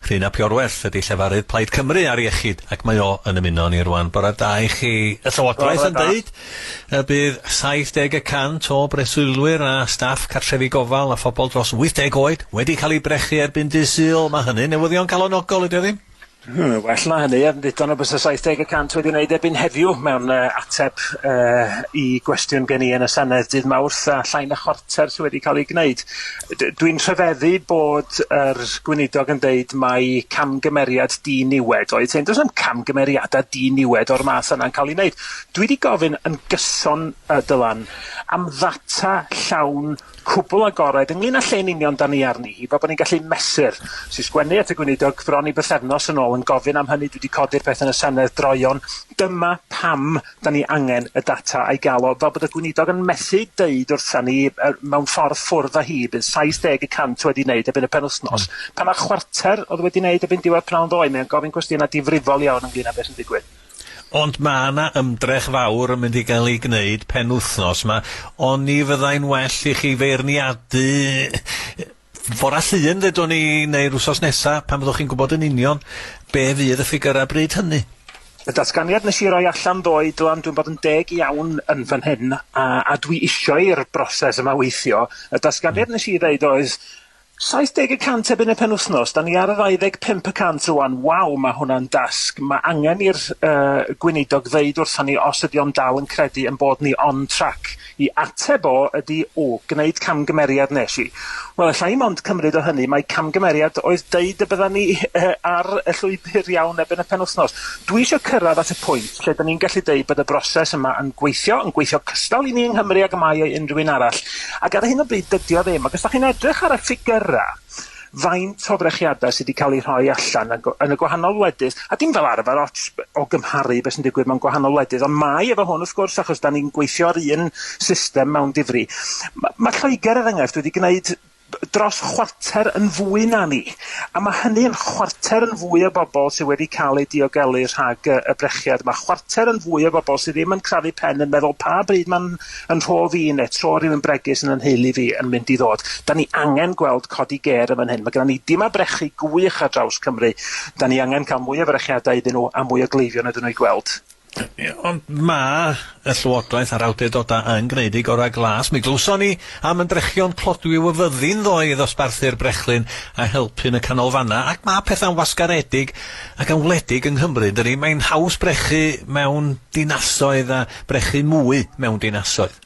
Rhun ap Iorwerth ydy llefarydd Plaid Cymru ar iechyd ac mae o yn ymuno â ni rwan. Bore da i chi. Y Llywodraeth yn deud y bydd 70 y cant o breswylwyr a staff cartrefi gofal a phobl dros 80 oed wedi cael eu brechu erbyn dydd Sul. Mae hynny'n newyddion calonogol, ydy o ddim? Hmm, well na hynny, yn ddiddon o byse 70 y cant wedi wneud erbyn heddiw mewn uh, ateb uh, i gwestiwn gen i yn y Senedd dydd Mawrth a llai na chwarter sydd wedi cael ei gwneud. D- dwi'n rhyfeddu bod yr gweinidog yn deud mai camgymeriad di-niwed oedd hyn. Does na'm camgymeriadau di-niwed o'r math yna'n cael ei wneud. Dwi 'di gofyn yn gyson, yy, Dylan, am ddata llawn cwbl agored ynglŷn â lle'n union 'dan ni arni hi, fel bod ni'n gallu mesur. Wnes i sgwennu at y gweinidog bron i bythefnos yn ôl yn gofyn am hynny, dwi 'di codi'r peth yn y Senedd droeon. Dyma pam 'Da ni angen y data a'i gael o, fel bod y Gweinidog yn methu deud wrtha ni, er, mewn ffordd ffwrdd â hi, bydd 70 y cant wedi wneud erbyn y penwythnos. Pan mae chwarter oedd wedi wneud erbyn diwedd pnawn ddoe, mae o'n gofyn cwestiynau difrifol iawn ynglŷn â beth sy'n digwydd. Ond mae yna ymdrech fawr yn mynd i gael ei gwneud penwythnos 'ma. Oni fyddai'n well i chi feirniadu Fore Llun, ddedwn ni, neu'r wsos nesa, pan fyddwch chi'n gwybod yn union be fydd y ffigyrau bryd hynny. Y datganiad nes i roi allan ddoe, Dylan, dwi'n bod yn deg iawn yn fan hyn, a, a dwi isio i'r broses yma weithio, y datganiad nes i ddeud oedd 70 y cant erbyn y penwythnos, da ni ar y 25 y cant rwan, waw, mae hwnna'n dasg, mae angen i'r yy gweinidog ddeud wrthon ni os ydi o'n dal yn credu yn bod ni on track. I ateb o ydi, O, gwneud camgymeriad wnes i. Wel, alla i mond cymryd o hynny mai camgymeriad oedd deud y byddan ni ar y llwybr iawn erbyn y penwythnos. Dwi isio cyrraedd at y pwynt lle 'dan ni'n gallu deud bod y broses yma yn gweithio, yn gweithio cystal i ni yng Nghymru ag y mae o i unrhyw un arall, ac ar hyn o bryd dydi o ddim, ac os 'dach chi'n edrych ar y ffigyrau, faint o frechiadau sydd wedi cael eu rhoi allan yn yn y gwahanol wledydd, a dim fel arfer ots o gymharu beth sy'n digwydd mewn gwahanol wledydd, ond mae efo hwn wrth gwrs achos da ni'n gweithio ar un system mewn difri. Mae ma Lloegr er enghraifft wedi gwneud dros chwarter yn fwy na ni, a mae hynny yn chwarter yn fwy o bobl sydd wedi cael eu diogelu rhag y brechiad yma, chwarter yn fwy o bobl sydd ddim yn crafu pen yn meddwl pa bryd mae'n yn rhof i ne tro rhywun bregus yn y nheulu fi yn mynd i ddod. Da ni angen gweld codi gêr yn fan hyn. Mae gyda ni dima brechu gwych ar draws Cymru. Da ni angen cael mwy o frechiadau iddyn nhw a mwy o gleifion iddyn nhw i gweld. Ie, ond mae y Llywodraeth a'r awdurdodau yn gwneud eu gorau glas. Mi glywson ni am ymdrechion clodwiw y fyddin ddoe i ddosbarthu'r brechlyn a helpu yn y canolfannau, ac mae pethau'n wasgaredig ac yn wledig yng Nghymru, yn dydi? Mae'n haws brechu mewn dinasoedd a brechu mwy mewn dinasoedd.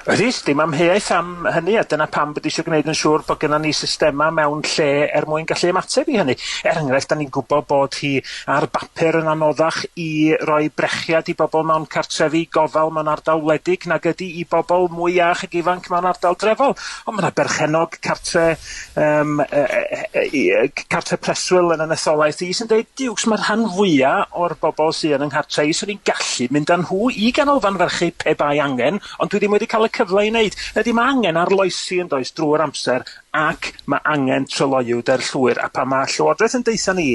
Rhys, Dim amheuaeth am hynny a dyna pam bod eisiau gwneud yn siŵr bod gennym ni systemau mewn lle er mwyn gallu ymateb i hynny. Er enghraifft, da ni'n gwybod bod hi ar bapur yn anoddach i roi brechiad i bobl mewn cartrefi gofal mewn ardal wledig nag ydy i bobl mwy iach ac ifanc mewn ardal drefol. Ond mae yna berchennog cartre yym yy yy yy yy yy c- cartre preswyl yn y etholaeth i sy'n deud Duwcs mae rhan fwya o'r bobl sy yn yng nghartre i swn i'n gallu mynd â nhw i ganolfan ferchu pe bai angen ond dwi ddim wedi cael y cyfle i wneud. Ydy mae angen arloesi yn does drwy'r amser ac mae angen tryloywder llwyr a pan mae Llywodraeth yn deutha ni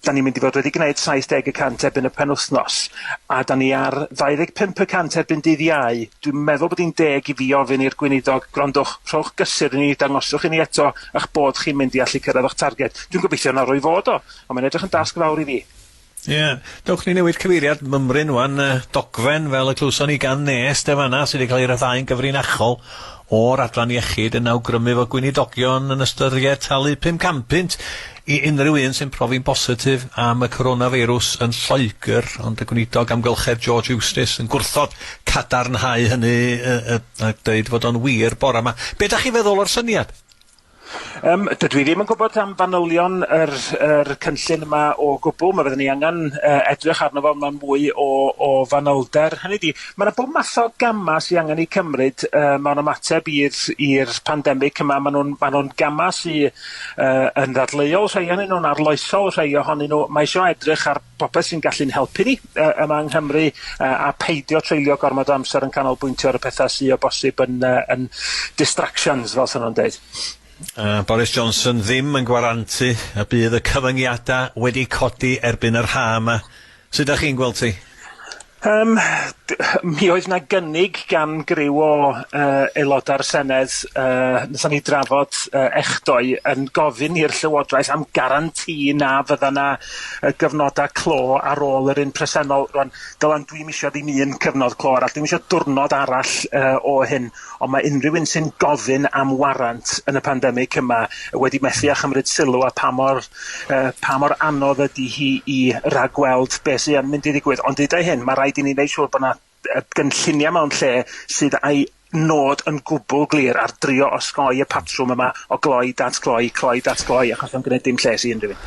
'Da ni'n mynd i fod wedi gwneud 70 y cant erbyn y penwythnos, a 'da ni ar 25 y cant erbyn dydd Iau. Dwi'n meddwl bod hi'n deg i fi ofyn i'r Gweinidog, gwrandwch, rhowch gysur i ni, dangoswch i ni eto eich bod chi'n mynd i allu cyrraedd eich targed. Dwi'n gobeithio na rwy fod o, ond mae'n edrych yn dasg fawr i fi. Ie, dewch ni newid cyfeiriad mymryn ŵan, dogfen fel y clywson ni gan Nest yn fan'na, sydd wedi cael ei ryddhau'n gyfrinachol O'r adran iechyd yn awgrymu fod gweinidogion yn ystyried talu pum can punt i unrhyw un sy'n profi'n bositif am y coronafeirws yn Lloegr, ond y Gweinidog Amgylchedd George Eustice yn gwrthod cadarnhau hynny a dweud fod o'n wir bore 'ma. Be' 'dach chi'n feddwl o'r syniad? Yym dydw i ddim yn gwybod am fanylion yr yr cynllun yma o gwbwl. Ma' fydden ni angen yy edrych arno fo mewn mwy o o fanylder. Hynny 'di, ma' 'na bob math o gama' sy angen 'u cymryd yy mewn ymateb i'r i'r pandemic yma. Ma' nw'n ma' nw'n gama' sy yy yn ddadleuol, rhei o'nyn nw'n arloesol, rhei ohonyn nw, ma' isio edrych ar popeth sy'n gallu'n helpu ni yy yma yng Nghymru yy a peidio treulio gormod o amser yn canolbwyntio ar y pethau sydd o bosib yn yy yn distractions fel sy'n nhw'n deud. A Boris Johnson ddim yn gwarantu y bydd y cyfyngiadau wedi codi erbyn yr ha' yma. Sut dach chi'n gweld hi? Yym, mi oedd 'na gynnig gan griw o yy aelodau'r Senedd, yy nathon ni drafod yy echdoe, yn gofyn i'r Llywodraeth am garanti na fydda 'na yy gyfnodau clo ar ôl yr un presennol. Rŵan, Dylan, dwi'm isio ddim un cyfnod clo arall, dwi'm isio diwrnod arall yy o hyn. ond mae unrhyw un sy'n gofyn am warant yn y pandemig yma wedi methu â chymryd sylw a pa mor, uh, pa mor anodd ydy hi i ragweld beth sy'n mynd i ddigwydd. Ond dydau hyn, mae rhaid i ni wneud siŵr bod yna gynlluniau mewn lle sydd a'i nod yn gwbl glir ar drio osgoi y patrwm yma o gloi, datgloi, cloi, datgloi, achos yn gwneud dim lles i unrhyw un.